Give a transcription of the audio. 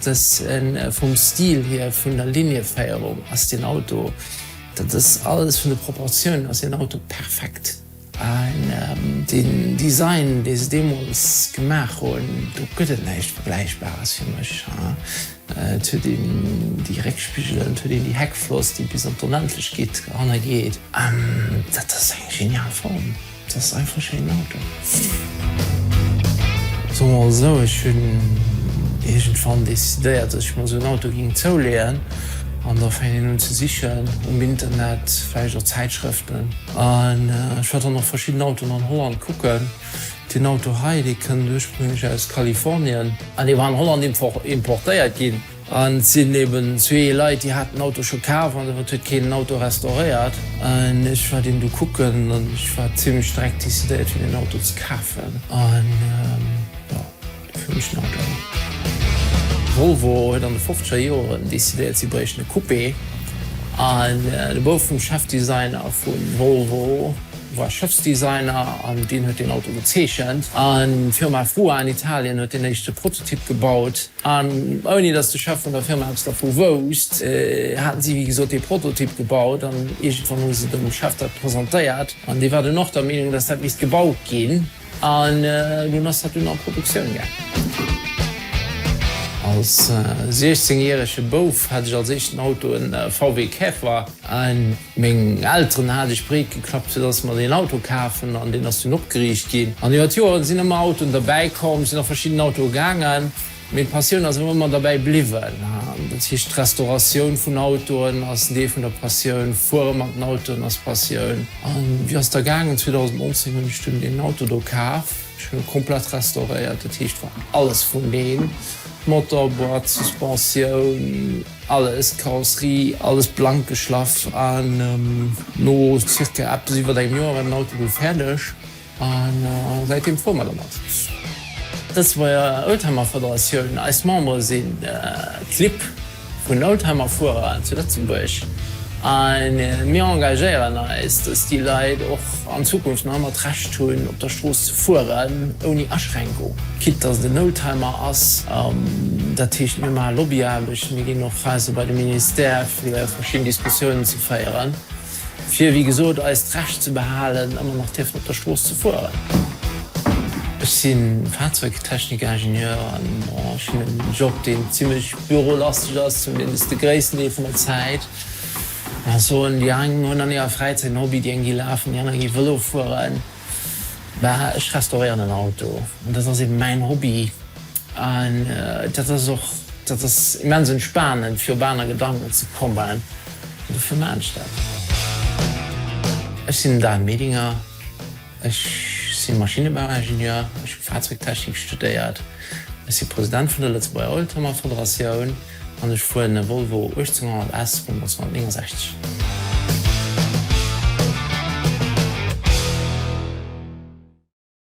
Dass en vum Stil hier, vun der Linieféierung ass deen Auto, dat ass alles, vun de Proportiounen ass deen Auto perfekt. An deen Design, dee se deemools gemaach hunn, do gëtt et näischt Vergläichbares fir mech. Et huet een déi Réckspigelen, et huet een déi Heckfloss, déi bis an d'Onendlechkeet hannergeet. Dat ass eng genial Form. Et ass einfach e schéinen Auto. Soe mer esou, ech hunn iergendwann decidéiert, dass ech mer esou en Auto géing zouleeën. An da fänkt een un ze sichen um Internet, vläicht a Zäitschrëften. An ech war dann och verschidden Autoen an Holland kucken. Deen Auto hei, dee kënnt ursprénglech aus Kalifornien. An dee war an Holland importéiert ginn. An et sinn eben zwee Leit, déi haten den Auto scho kaf an dowéinst huet keen den Auto restauréiert. An ech war deem du kucken an ech war zimlech direkt decidéiert fir deen Auto ze kafen an jo, dofir hunn ech den Auto elo. Volvo huet an de fofzeger Joeren decidéiert, si bréichten e Coupé an de Bouf vum Chefdesigner vu Volvo war Schëffsdesigner an deen huet deen Auto gezeechent an d'Firma FUA an Italien huet deen éischte Prototyp gebaut. An ouni dass de Chef vun der Firma eppes dervu wousst, haten si wéi gesot dee Prototyp gebaut an iergendwann hu se dem Chef dat presentéiert an dee war dunn och der Meenung, dass dat misst gebaut ginn an dunn ass dat dunn an Produktioun gaangen. Als 16 järege Bouf hat ech als éischten Auto e VW Käfer. Meng Elteren hat ech breet geklappt fir dass mer deen Auto kafen an deen ass dunn opgeriicht ginn. An iwwer d'Joeren sinn ëmmer Autoen derbäi komm, sinn a verschidden Autoe gaangen, mee d'Passioun ass awer ëmmer derbäi bliwwen. Dat heescht d'Restauratioun vun Autoen ass en Deel vun der Passioun, fuere mat den Autoen ass Passioun. An wéi ass da gaangen? 2019 hunn ech dunn deen Auto do kaf. Ech hunn e komplett restauréiert, dat heescht war alles vun een, Motor, Boîte, Suspensioun, Alles Karosserie, alles blank geschlaff an no circa eppes iwwert engem Joer war den Auto du fäerdeg a säitdeem fuere mer dermat. D'Lëtzebuerger Oldtimer Federatioun, eis Membere si Clibb vun Oldtimerfuerer zu Lëtzebuerg a mir engagéieren eis, dass déi Leit och an Zukunft nach ëmmer d'Recht hunn, op der Strooss ze fueren, ouni Aschränkung, quitte dass et en Oldtimer ass. Dat heescht, mir maache Lobbyaarbecht, mir ginn och Fraise bei de Ministère, fir verschidden Diskussiounen ze féieren, fir, wéi gesot, eist Recht ze behalen, ëmmer nach dierfen op der Strooss ze fueren. Ech si Fahrzeugtechnikingenieur an ech hunn e Job, deen zimlech bürolasteg ass, zumindest de gréissten Deel vun der Zäit. Mä ech soen, déi eng hunn an hirer Fräizäit en Hobby, déi eng gi lafen, déi aner gi Vëlo fueren. Mä ech restauréieren en Auto an dat ass eeben mäin Hobby an dat ass och, dat ass immens entspanend, fir op aner Gedanken ze kommen an dofir maan ech dat. Ech sinn Dan Medinger, Ech si Maschinnebauingenieur, ech hu Fahrzeugtechnik studéiert, ech si President vun der Lëtzebuerger Oldtimer Federatioun an ech fueren e Volvo 1800 S vun 1969.